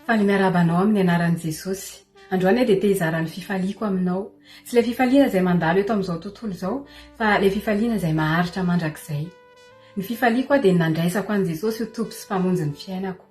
Faly miarahaba anao amin'ny anaran'i Jesosy. Androany aho dia te hizara ny fifaliako aminao. Tsy ilay fifaliana izay mandalo eto amin'izao tontolo izao, fa ilay fifaliana izay maharitra mandrakizay. Ny fifaliako aho dia ny nandraisako an'i Jesosy ho Tompo sy Mpamonjy ny fiainako.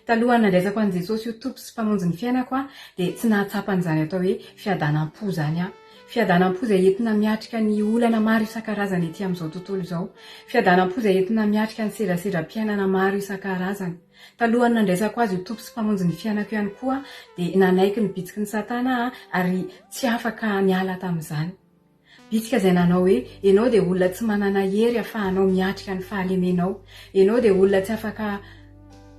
Talohan'ny nandraisako an'i Jesosy ho Tompo sy Mpamonjy ny fiainako aho dia tsy nahatsapa an'izany atao hoe fiadanam-po izany aho. Fiadanam-po izay entina miatrika ny olana maro isan-karazany ety amin'izao tontolo izao. Fiadanam-po izay entina miatrika ny sedrasedram-piainana maro isan-karazany. Talohan'ny nandraisako Azy ho Tompo sy Mpamonjy ny fiainako ihany koa aho dia nanaiky ny bitsiky ny Satana aho ary tsy afaka niala tamin'izany. Bitsika izay nanao hoe, Enao dia olona tsy manana hery afahanao miatrika ny fahalemenao. Enao dia olona tsy afaka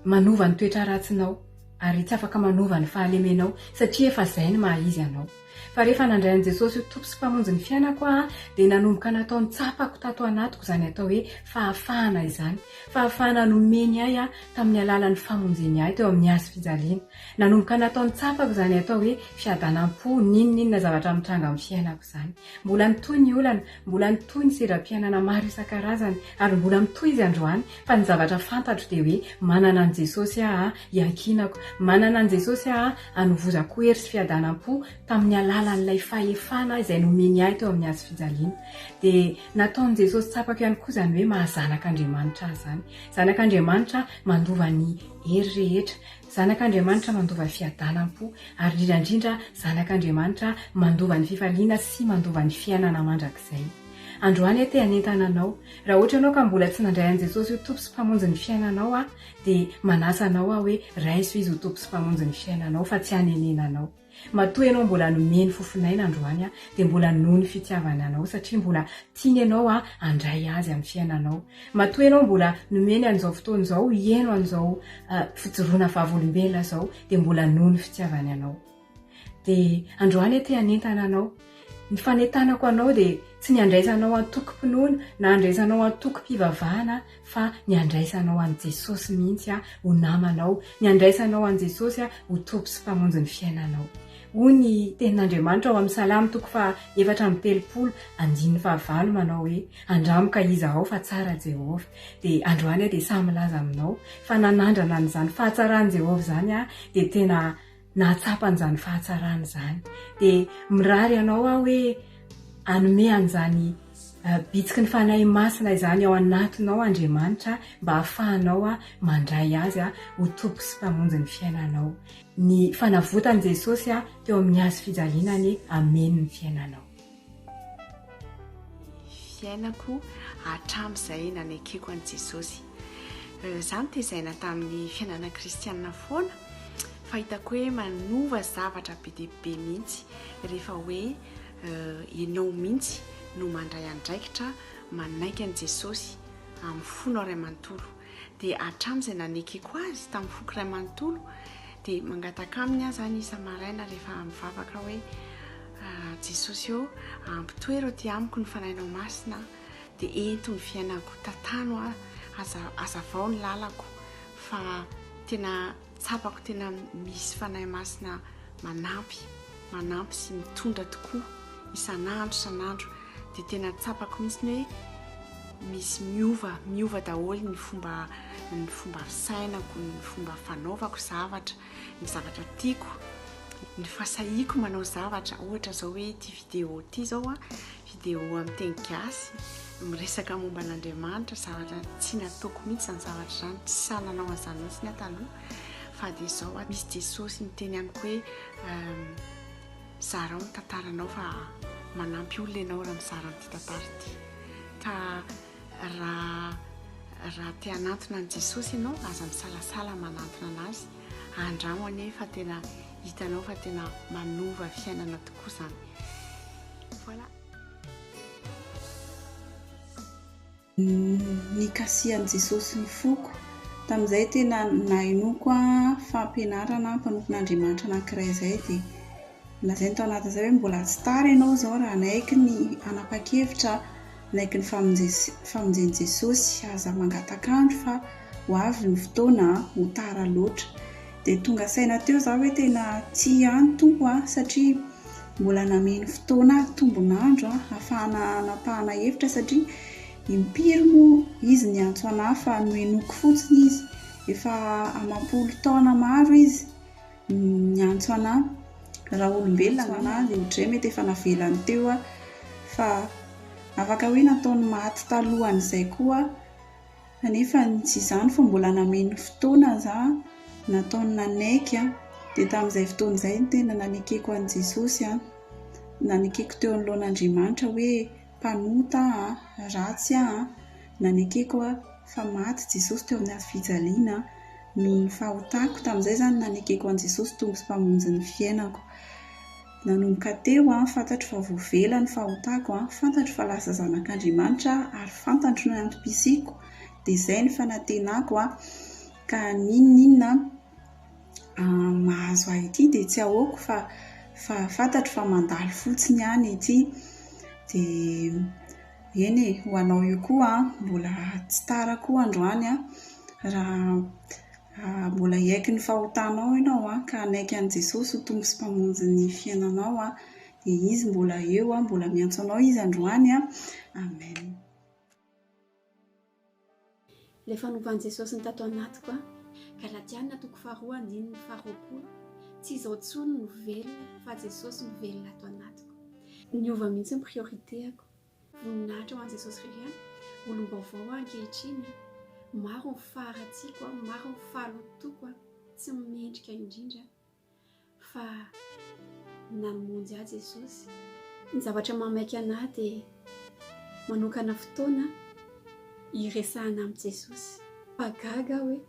manova ny toetra ratsinao, ary tsy afaka manova ny fahalemenao, satria efa izay ny maha izy anao. Fa rehefa nandray an'i Jesosy ho Tompo sy Mpamonjy ny fiainako aho, dia nanomboka natao nitsapako tato anatiko izany atao hoe fahafahana izany. Fahafahana nomeny ahy tamin'ny alalan'ny famonjeny ahy teo amin'ny hazofijaliana. Nanomboka natao nitsapako izany atao hoe fiadanam-po n'inon'inona zavatra mitranga amin'ny fiainako izany. Mbola nitohy ny olana, mbola nitohy ny sedram-piainana maro isan-karazany, ary mbola mitohy izy androany, fa ny zavatra fantatro dia hoe manana an'i Jesosy aho iankinako, manana an'i Jesosy aho anovozako hery sy fiadanam-po tamin'ny alalan'ilay fahefana izay nomeny ahy teo amin'ny hazo fijaliana. Dia nataon'i Jesosy tsapako ihany koa izany hoe maha zanak'Andriamanitra ahy izany. Zanak'Andriamanitra mandova ny hery rehetra, Zanak'Andriamanitra mandova fiadanam-po, ary indrindra indrindra Zanak'Andriamanitra mandova ny fifaliana sy mandova ny fiainana mandrakizay. Androany aho te hanentana anao, raha ohatra ianao ka mbola tsy nandray an'i Jesosy ho Tompo sy Mpamonjy ny fiainanao, aho dia manasa anao aho hoe raiso Izy ho Tompo sy Mpamonjy ny fiainanao fa tsy hanenenanao. Matoa ianao mbola nomeny fofon'aina androany aho dia mbola noho ny fitiavany anao satria mbola tiany ianao handray azy amin'ny fiainanao. Matoa ianao mbola nomeny an'izao fotoana izao hieno an'izao fijoroana vavolombelona izao dia mbola noho ny fitiavany anao. Dia androany aho te hanentana anao. Ny fanentanako anao dia tsy ny handraisanao antokom-pinoana na handraisanao antokom-pivavahana aho fa ny handraisanao an'i Jesosy mihitsy aho ho namanao, ny handraisanao an'i Jesosy aho ho Tompo sy Mpamonjy ny fiainanao. Hoy ny Tenin'Andriamanitra ao amin'ny Salamo toko faha efatra amby telopolo andininy faha valo manao hoe, Andramo ka iza aho fa tsara Jehovah. Dia androany aho dia sahy milaza aminao fa nanandrana an'izany fahatsaran'i Jehovah izany aho dia tena nahatsapa an'izany fahatsarana izany. Dia mirary anao aho hoe hanome an'izany bitsiky ny Fanahy Masina izany ao anatinao Andriamanitra mba hahafahanao mandray azy ho Tompo sy Mpamonjy ny fiainanao. Ny fanavotan'i Jesosy teo amin'ny hazo fijaliana anie hameno ny fiainanao. fiainako hatramin'izay nanekeko an'i Jesosy. Izaho notezaina tamin'ny fiainana kristianina foana, fa hitako hoe manova zavatra be dia be mihitsy rehefa hoe ianao mihitsy no mandray andraikitra manaiky an'i Jesosy amin'ny fonao iray manontolo. Dia hatramin'izay nanekeko azy tamin'ny foko iray manontolo, dia mangataka aminy aho izany isa-maraina rehefa mivavaka hoe, Jesosy ô, ampitoero aty amiko ny Fanahinao Masina, dia ento ny fiainako, tantano aho, aza, hazavao ny lalako, fa tena Tsapako tena misy Fanahy Masina manampy, manampy sy mitondra tokoa isan'andro isan'andro dia tena tsapako mihitsy ny hoe misy miova, miova daholo ny fomba ny fomba fisainako, ny fomba fanaovako zavatra, ny zavatra tiako, ny fasahiako manao zavatra, ohatra zao hoe ity vidéo ity zao a, Vidéo amin'ny teny gasy, miresaka momba an'Andriamanitra, zavatra tsy nataoko mihitsy izany zavatra izany, tsy sahy nanao an'izany mihitsy ny ahy taloha, fa dia izao aho misy Jesosy miteny amiko hoe ehm, zarao ny tantaranao fa manampy olona ianao raha mizara an'ity tantara ity. Ka raha raha te hanantona an'i Jesosy ianao, aza misalasala manantona anazy, andramo anie fa tena hitanao fa tena manova fiainana tokoa izany. Voilà. Nikasihan'i Jesosy ny foko. Tamin'izay tena nahenoako fampianarana mpanompon'Andriamanitra anankiray izay dia nolazainy tao anatin'izay hoe mbola tsy tara ianao izao raha hanaiky ny hanapa-kevitra Naiky ny famonjen'i Jesosy, Aza mangataka andro fa ho avy ny fotoana an, ho tara loatra. Dia tonga saina teo izaho hoe tena tsia an, Tompo an, satria mbola nameno fotoana ahy tombon'andro an, hahafahana hanapahana hevitra satria impiry moa Izy niantso an'ahy fa nohenoiko fotsiny Izy, efa amam-polo taona maro Izy. Miantso anah raha olombelona anah dia odray mety efa navelany teo aho fa afaka hoe nataony maty talohan'izay koa aho kanefa tsy izany fa mbola nameno fotoana zah nataony nanaiky an, dia tamin'izay fotoana izay no tena nanekeko an'i Jesosy an, nanekeko teo anoloan'Andriamanitra hoe mpanota aho an, ratsy aho an, nanekeko an, fa maty Jesosy teo amin'ny hazo fijaliana an, noho ny fahotako, tamin'izay izany nanekeko an'i Jesosy Tompo sy Mpamonjy ny fiainako. Nanomboka teo an, fantatro fa voavela ny fahotako an, fantatro fa lasa zanak'Andriamanitra aho ary fantatro ny antom-pisiako, dia izay ny fanantenako an, ka n'inon'inona, mahazo ahy ity dia tsy ahoako fa fa fantatro fa mandalo fotsiny ihany ity dia eny e! ho anao io koa an! mbola tsy tara koa androany an! raha mbola hiaiky ny fahotanao ianao an! ka hanaiky an'i Jesosy ho Tompo sy Mpamonjy ny fiainanao an! dia Izy mbola eo an! mbola miantso anao Izy androany an! Amen! Ilay fanovan'i Jesosy ny tato anatiko an! Galatiana toko faharoa andininy faharoapolo Tsy izaho intsony no velona fa Jesosy no velona ato anatiko. Niova mihitsy ny priorité-ako. Voninahitra ho an'i Jesosy irery an! Olom-baovao aho ankehitriny an! Maro ny faharatsiako an! Maro ny fahalotoako an! Tsy mendrika indrindra an! fa namonjy ahy Jesosy. Ny zavatra mahamaika anah dia manokana fotoana hiresahana amin'i Jesosy fa gaga aho hoe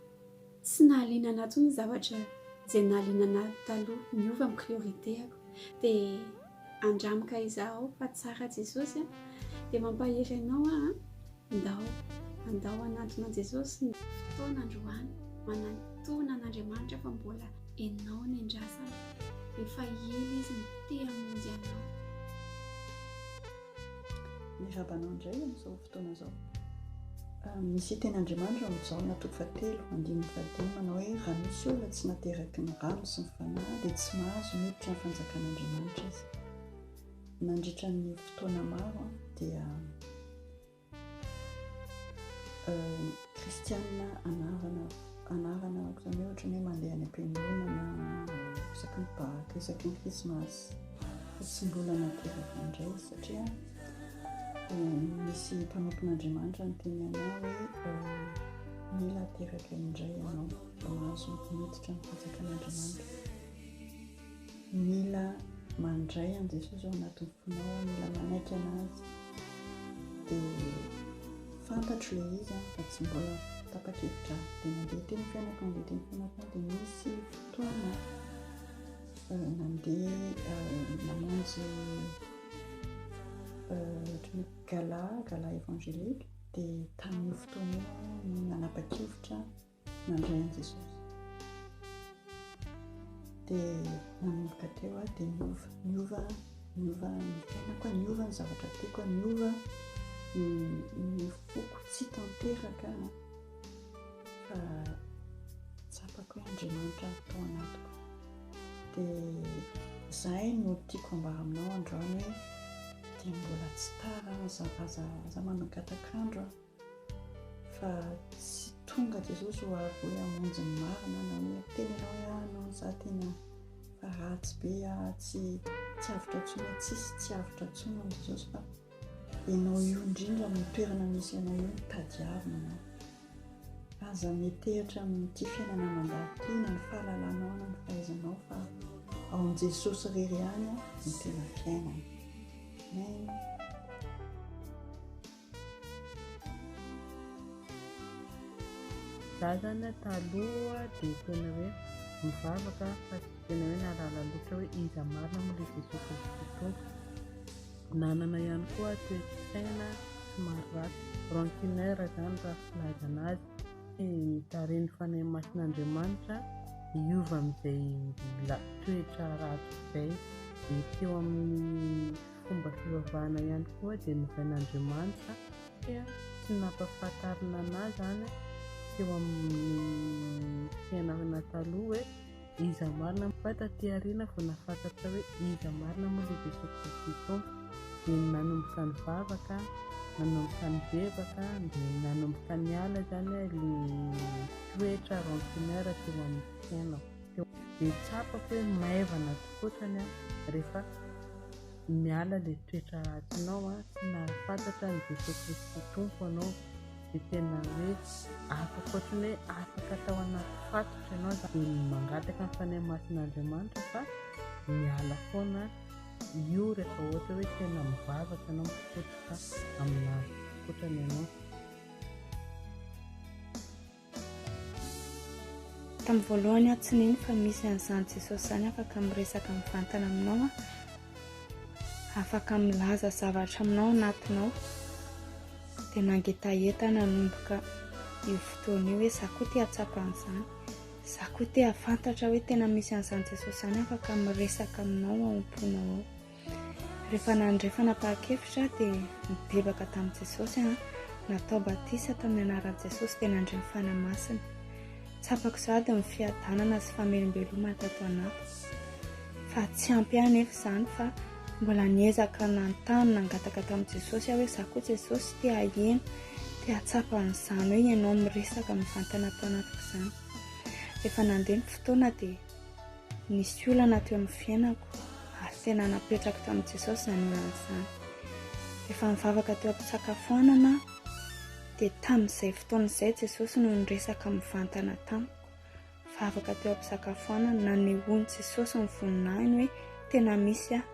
tsy nahaliana anah intsony ny zavatra izay nahaliana anah taloha, niova ny priorité-ako dia. Andramo ka izaho fa tsara Jesosy a! Dia mampahery anao aho a! Ndao, andao hanantona an'i Jesosy ny. Fotoana androany, manantona an'Andriamanitra fa mbola enao ny andrasana, efa ela izy no te hamonjy anao. Miarahaba anao indray amin'izao fotoana izao. Ah, misy hiteny Andriamanitra amin'izao ny atoko fahatelo, andininy fahadimy manao hoe raha misy olona tsy nateraky ny rano sy ny fanahy dia tsy mahazo miditra ny fanjakan'Andriamanitra izy. Nandritra ny fotoana maro dia Kristianina anarana anarana ohatrany hoe ohatrany hoe mandeha any am-piangonana isaky ny Paka, isaky ny Krismasy fa tsy mbola nateraka indray satria misy mpanompon'Andriamanitra niteny anao hoe mila ateraka indray ianao mba mahazo miditra ny fanjakan'Andriamanitra. Mila mandray an'i Jesosy ao anatin'ny fonao aho, mila manaiky an'Azy. Dia fantatro ilay izy aho fa tsy mbola tapa-kevitra aho. Dia nandeha teny fianako, nandeha teny fianako aho dia nisy fotoana euh, nandeha euh, namonjy euh, gala, gala évangélique dia tamin'io fotoana io aho no nanapa-kevitra nandray an'i Jesosy. Dia nanomboka teo aho dia niova, niova, niova ny fiainako, niova ny zavatra tiako, niova ny foko tsy tanteraka fa tsapako hoe Andriamanitra tao anatiko. Dia izahay no tiako ambara aminao androany hoe dia mbola tsy tara aza, aza, aza manakatak'andro a. Fa tsy tonga Jesosy ho avy hoe hamonjy ny marina na hoe hiteny ianao hoe ah non za tena fa ratsy be ah tsy tsy avotra tsony ah tsisy tsy avotra tsony amin'i Jesosy fa ianao io indrindra amin'ny toerana misy ianao io no tadiavina ianao. Aza metehitra amin'ity fiainana mandalo ity na ny fahalalanao na ny fahaizanao fa ao amin'i Jesosy irery ihany no tena fiainana. Amen. Razana taloha dia tena hoe mivavaka fa tsy tena hoe nahalala loatra hoe iza marina moa ilay Jesoa Kristy Tompo. Nanana ihany koa toe-tsaina somary ratsy, rancuneur izany raha filazana azy. Tsy nitarin'ny Fanahy Masin'Andriamanitra hiova amin'izay toetra ratsy izay. Dia teo amin'ny Fomba fivavahana ihany koa dia novain'Andriamanitra satria tsy nampahafantarina anà izany teo amin'ny fiainana taloha hoe iza marina, fa taty aoriana vao nahafantatra hoe iza marina moa ilay Jesoa Kristy Tompo. Dia nanomboka nivavaka, nanomboka nibebaka, dia nanomboka niala izany ilay toetra rancuneur teo amin'ny fiainako. dia tsapako hoe maivana atokotany aho rehefa miala ilay toetra ratsinao an, sy mahafantatra an'i Jesoa Kristy Tompo anao dia tena hoe afaka ohatran'ny hoe afaka tao anaty fatotra ianao dia mangataka ny Fanahy Masin'Andriamanitra fa miala foana io rehefa ohatra hoe tena mivavaka ianao mikotroka aminazy atokotany ianao. Tamin'ny voalohany aho tsy nino fa misy an'izany Jesosy izany afaka miresaka mivantana aminao an. Afaka milaza zavatra aminao anatinao. Dia nangetaheta nanomboka io fotoana io hoe za koa te hatsapa an'izany. Za koa te hafantatra hoe tena misy an'izany Jesosy izany afaka miresaka aminao ao am-ponao ao. Rehefa nandre fanapahan-kevitra dia nibebaka tamin'i Jesosy, natao batisa tamin'ny anaran'i Jesosy dia nandre ny Fanahy Masina. Tsapako sahady ny fiadanana sy famelombelomana tato anaty. Fa tsy ampy ahy anefa izany fa mbola niezaka nanontany nangataka tamin'i Jesosy aho hoe za koa Jesosy te haheno, te hahatsapa an'izany hoe ianao miresaka mivantana ato anatiko izany. Rehefa nandeha ny fotoana dia Nisy olana teo amin'ny fiainako ary tena napetrako tamin'i Jesosy izany olana izany. Efa nivavaka teo am-pisakafoanana aho dia tamin'izay fotoana izay Jesosy no niresaka mivantana tamiko. Vavaka teo am-pisakafoanana, nanehoan'i Jesosy ny voninahiny hoe tena misy aho.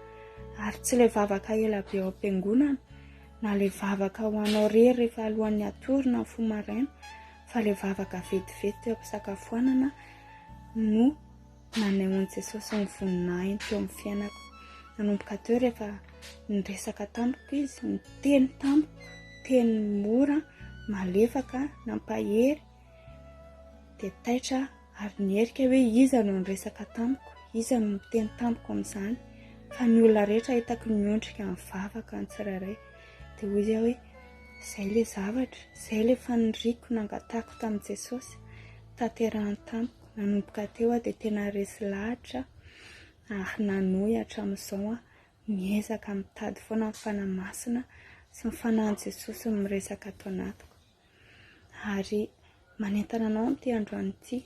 Ary tsy ilay vavaka ela be ao am-piangonana na ilay vavaka ho anao irery rehefa alohan'ny hatory na mifoha maraina fa ilay vavaka vetivety teo am-pisakafoanana no nanehoan'i Jesosy ny voninahiny teo amin'ny fiainako. Nanomboka teo rehefa niresaka tamiko izy, niteny tamiko, teny mora, malefaka, nampahery, dia taitra Ary nierika hoe iza no niresaka tamiko, iza no niteny tamiko amin'izany, fa ny olona rehetra hitako niondrika nivavaka ny tsirairay. Dia hoy aho hoe, izay ilay zavatra, izay ilay faniriako nangatahako tamin'i Jesosy, tanterahany tamiko. Nanomboka teo aho dia tena resy lahatra ary nanohy hatramin'izao aho, miezaka mitady foana ny Fanahy Masina sy ny Fanahin'i Jesosy miresaka ato anatiko. ary manentana anao amin'ity androany ity.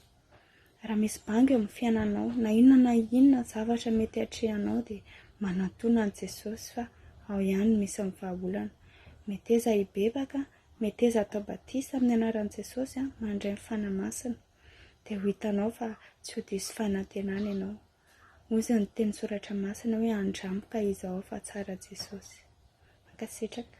Raha misy banga eo amin'ny fiainanao, na inona na inona zavatra mety atrehanao dia manantòna an'i Jesosy fa ao ihany no misy ny vahaolana. Meteza hibebaka, meteza hatao batisa amin'ny anaran'i Jesosy mandray ny Fanahy Masina dia ho hitanao fa tsy ho diso fanantenana ianao. Hoy izao ny tenin-tsoratra masina hoe andramby ka izaho fa tsara Jesosy. Mankasitraka.